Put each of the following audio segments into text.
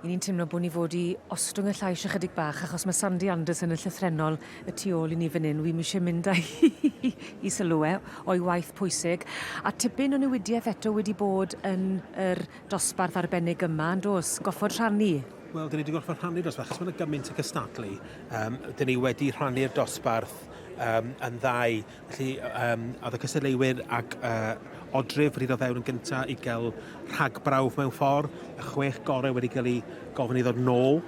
I ni'n teimlo bod ni fod i ostwng y llais ychydig bach achos mae Sandy Anderson yn llythrennol y tu ôl i ni fan hyn. Wi ddim eisiau mynd â hi i sylw e o'i waith pwysig. A tipyn o newidiaeth eto wedi bod yn yr dosbarth arbennig yma, yn dos, goffod rhannu. Wel, dyn ni wedi gorfod rhannu dosbarth, achos mae yna gymaint o gystadlu. Um, dyn ni wedi rhannu'r dosbarth um, yn ddau Felly, um, oedd y cystadleuwyr ac uh, odrif wedi dod fewn yn gyntaf i gael rhagbrawf mewn ffordd, y chwech gorau wedi cael ei gofyn i ddod nôl,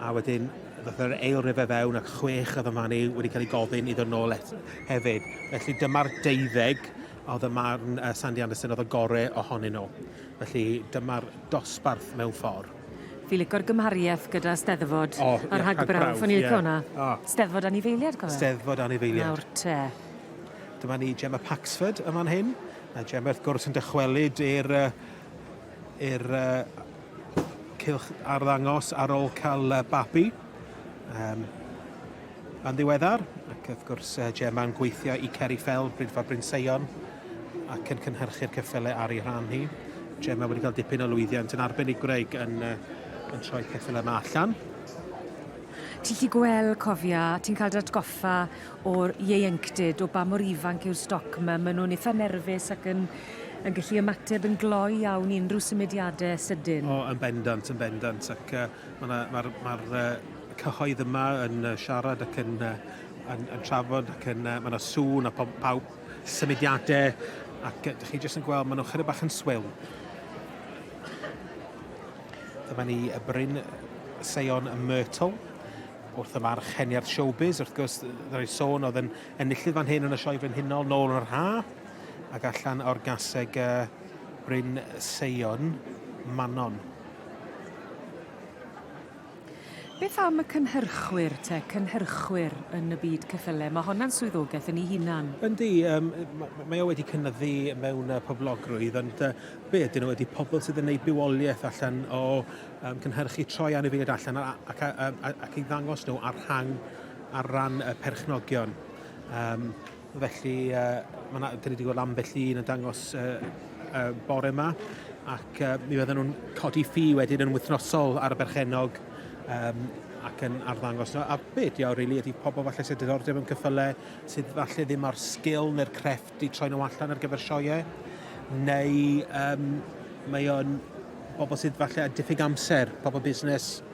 a wedyn ddoth yr eil rife fewn ac chwech oedd yma ni wedi cael ei gofyn i ddod nôl et, hefyd. Felly dyma'r deuddeg oedd y marn uh, Sandy Anderson oedd y gorau ohonyn nhw. Felly dyma'r dosbarth mewn ffordd. Fi lico'r gymhariaeth gyda steddfod oh, a rhagbrawf. O'n i'n licio hwnna. Oh. Steddfod anifeiliad, cofio? Steddfod anifeiliad. Nawr te. Dyma ni Gemma Paxford yma yn hyn. A Gemma, wrth gwrs, yn dychwelyd i'r er, uh, cylch arddangos ar ôl cael uh, babi. Um, Yn ddiweddar, ac wrth gwrs, Gemma'n gweithio i Ceri Fell, Brynfa Bryn Seion, ac yn cynhyrchu'r ceffylau ar ei rhan hi. Gemma wedi cael dipyn o lwyddiant yn arbenigwraig yn, yn troi ceffylau yma allan. Ti'n lli gweld, cofia, ti'n cael dy atgoffa o'r ieuenctid, o ba mor ifanc yw'r stoc yma. Maen nhw'n eitha nerfus ac yn, yn gallu ymateb yn gloi iawn i unrhyw symudiadau sydyn. O, yn bendant, yn bendant. Ac uh, mae'r ma, ma, ma, ma cyhoedd yma yn yy siarad ac yn yy yn yn trafod ac yn yy ma' 'na sŵn a pob- pawb symudiade ac yy 'dych chi jyst yn gweld ma' nw chydig bach yn swil. Dyma ni y Bryn Seion y Myrtle wrth y farch heniad showbiz wrth gwrs yy roi sôn o'dd yn enillydd fan hyn yn y Sioe Frenhinol nôl yn yr ha' ac allan o'r gaseg yy Bryn Seion Manon. Beth am y cynhyrchwyr te, cynhyrchwyr yn y byd ceffylau? Mae honna'n swyddogaeth yn ei hunan. Yndi, um, mae o wedi cynnyddu mewn uh, poblogrwydd, ond uh, be ydyn nhw ydy pobl sydd yn gwneud bywoliaeth allan o um, cynhyrchu troi anifeiliaid allan ac, ac, ac, ac i ddangos nhw ar rhan ar ran y perchnogion. Um, Felly, mae yna, dyn ni wedi gweld ambell un yn dangos uh, uh, bore yma, ac uh, mi fydden nhw'n codi ffi wedyn yn wythnosol ar y berchenog um, ac yn arddangos. A be ydy o, really, ydy pobl falle sydd diddordeb yn cyffyle, sydd falle ddim ar sgil neu'r crefft i troi nhw allan ar gyfer sioiau, neu um, mae o'n bobl sydd falle a diffyg amser, pobl busnes,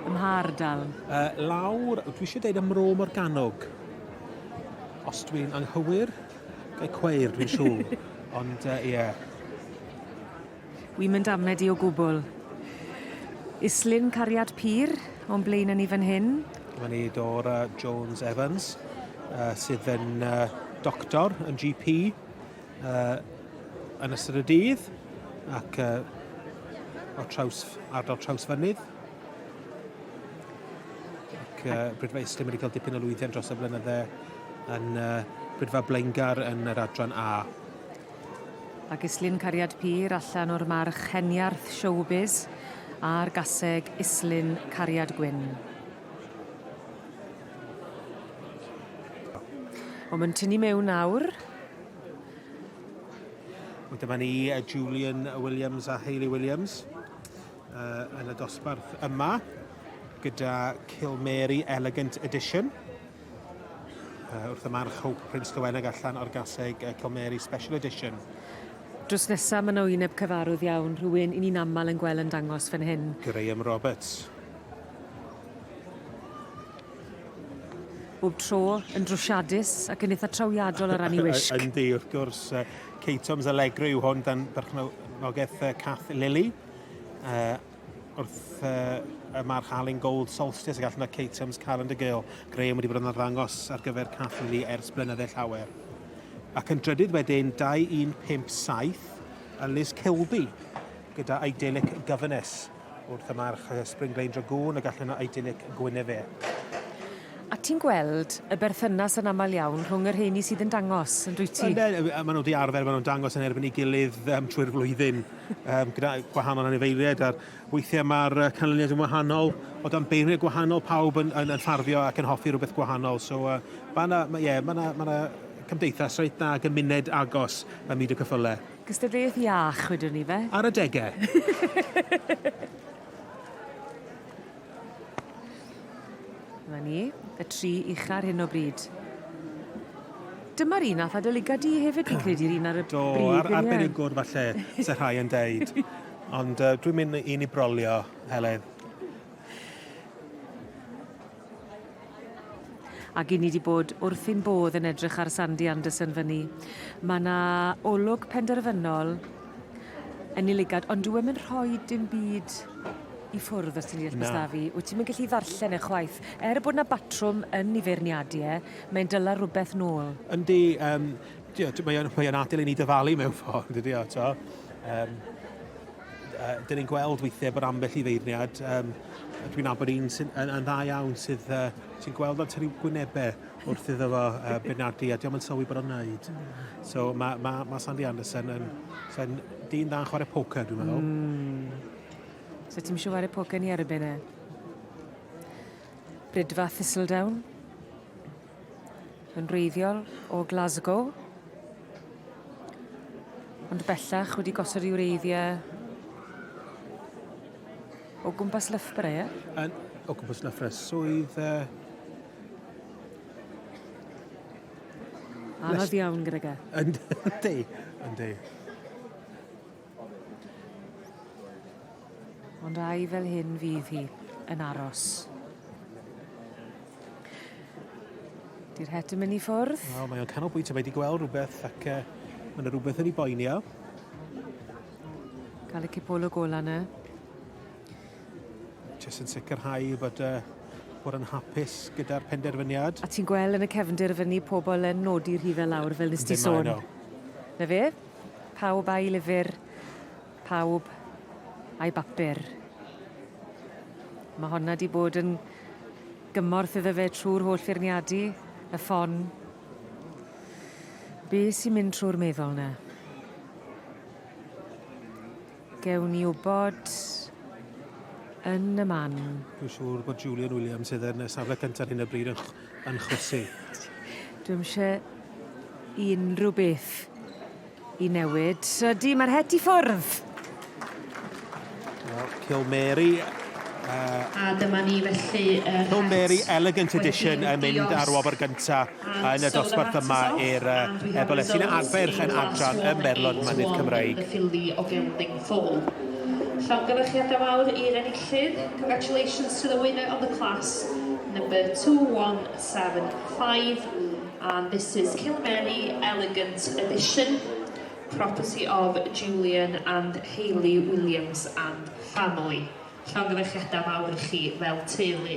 Ym mha ardal? Uh, lawr, dwi eisiau deud ym Mro Morgannwg. Os dwi'n anghywir, gael cweir, dwi'n siŵr. Ond, ie. Uh, yeah. Wi'n mynd amed i o gwbl. Islyn Cariad Pyr, o'n blaen yn ni fan hyn. Mae ni Dora Jones Evans, uh, sydd yn uh, doctor yn GP uh, yn ystod y dydd ac uh, o traws, ardal traws fynydd. Ac uh, Brydfa Islym wedi cael dipyn o lwyddiant dros y blynydde yn uh, Brydfa Blaengar yn yr adran A. A gislun cariad pyr allan o'r march heniarth showbiz a'r gaseg islun cariad gwyn. Ond mae'n tynnu mewn nawr Wel, dyma ni uh, Julian Williams a Hayley Williams uh, yn y dosbarth yma gyda Kilmary Elegant Edition uh, wrth y march Hope Prince Dyweneg allan o'r gaseg uh, Kilmary Special Edition. Drws nesaf mae yna wyneb cyfarwydd iawn, rhywun i ni'n aml yn gweld yn dangos fan hyn. Graham Roberts. bob tro yn drwsiadus ac yn eitha trawiadol o ran ei wisg. Yndi, wrth gwrs, uh, Kate Thomas Allegro yw hwn dan berchnogaeth uh, Cath Lily. Uh, wrth uh, y march Alun Gold Solstice ac allan o Kate Thomas Calendar Girl. Graham wedi bod yn arddangos ar gyfer Cath Lily ers blynydde llawer. Ac yn drydydd wedyn 2157 a Liz Kilby gyda Idyllic Governess. Wrth y march Spring Glein Dragoon y gallwn o idyllic Gwynedd e. A ti'n gweld y berthynas yn aml iawn rhwng y rheini sydd yn dangos, yn dwyt ti? Maen nhw wedi arfer, maen nhw'n dangos yn erbyn ei gilydd um, trwy'r flwyddyn um, gyda gwahanol anifeiliaid a'r weithiau mae'r canlyniad yn wahanol o dan beirniau gwahanol pawb yn, yn, yn ffarddio ac yn hoffi rhywbeth gwahanol. So uh, mae yna yeah, ma ma cymdeithas reit dda gymuned agos ym myd y cyffylau. Gystadleuaeth iach, wedwn ni fe. Ar adegau! Dyma ni, y tri ucha ar hyn o bryd. Dyma'r un nath adolyga di hefyd fi'n credu, yr un ar y brig yn ie? Do, arbenigwr falle, se rhai yn deud. Ond dwi'n mynd i ni brolio, Helen. Ac i ni 'di bod wrth ein bodd yn edrych ar Sandy Anderson fyn 'ny. Ma' 'na olwg penderfynol yn ei lygad, ond dyw e'm yn rhoi dim byd i ffwrdd os ti'n deall be' s'da fi. Wyt ti'm yn gallu ddarllen e chwaith. Er bod 'na batrwm yn 'i feirniadu e, mae'n dala rwbeth nôl. Yndi, yym, t'wod mae o'n mae o'n atal i ni dyfalu mewn ffordd, dydi o, t'wo'? Yym. Dyn ni'n gweld weithiau bod ambell i feirniad, um, dwi'n abod un sy'n yn, yn dda iawn sydd uh, ti'n gweld o'n tynnu gwynebau wrth iddo fo uh, benadu a diolch yn sylwi bod o'n wneud. So mae ma, ma Sandy Anderson yn, yn dyn dda'n chwarae poker, dwi'n meddwl. Mm. So ti'n siŵr ar y poker ni ar y bennau? Brydfa Thistledown? Yn wreiddiol o Glasgow. Ond bellach wedi gosod i wreiddiau o gwmpas Loughborough, ie? Yn, o gwmpas Loughborough. Swydd... Uh... Anodd iawn gyda ga. Yndi, yndi. Ond ai fel hyn fydd hi yn aros? Di'r het yn myn' i ffwrdd. O mae o'n canolbwyntio mae 'di gweld rwbeth ac yy ma' 'na rwbeth yn 'i boeni o. Ca'l y cipolwg ola 'na. Jyst yn sicirhau bod yy bod yn hapus gyda'r penderfyniad. A ti'n gwel' yn y cefndir fyn 'ny pobol yn nodi rhife lawr fel nes ti sôn. Dim mlaen â 'wn. 'Na fe. Pawb a'i lyfr, pawb a'i bapur. Ma' honna 'di bod yn gymorth iddo fe trw'r holl feirniadu, y ffon. Be' sy'n mynd trw'r meddwl 'na? Gewn ni wybod yn y man. Dwi'n siŵr bod Julian Williams sydd yn y safle cyntaf hyn y bryd yn, yn chwysu. Dwi'n eisiau unrhyw beth i newid. Ydy, mae'r het i ffwrdd. Well, Kill Mary Uh, a dyma ni felly... Uh, Kill Mary Elegant Edition yn mynd ar wobr gyntaf. yn y dosbarth yma i'r Ebole sy'n arfer yn adran ym Merlon Mynydd Cymraeg. Ffili o fewn ddim ffwl. Llongyfarchiadau mawr i'r enillydd. Congratulations to the winner of the class number 2175 and this is Kilmeny Elegant Edition, property of Julian and Hayley Williams and family. Llongyfarchiadau mawr i chi fel teulu.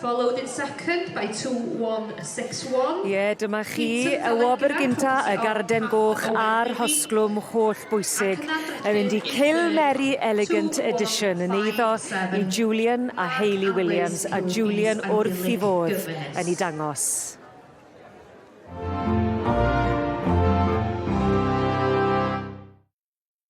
Followed in second by two one six one. Ie, dyma chi, y wobr gynta, y garden goch a'r hosglwm holl bwysig yn mynd i Kill Mary Elegant Edition yn eiddo i Julian a Hayley Williams a Julian wrth i fodd yn ei dangos.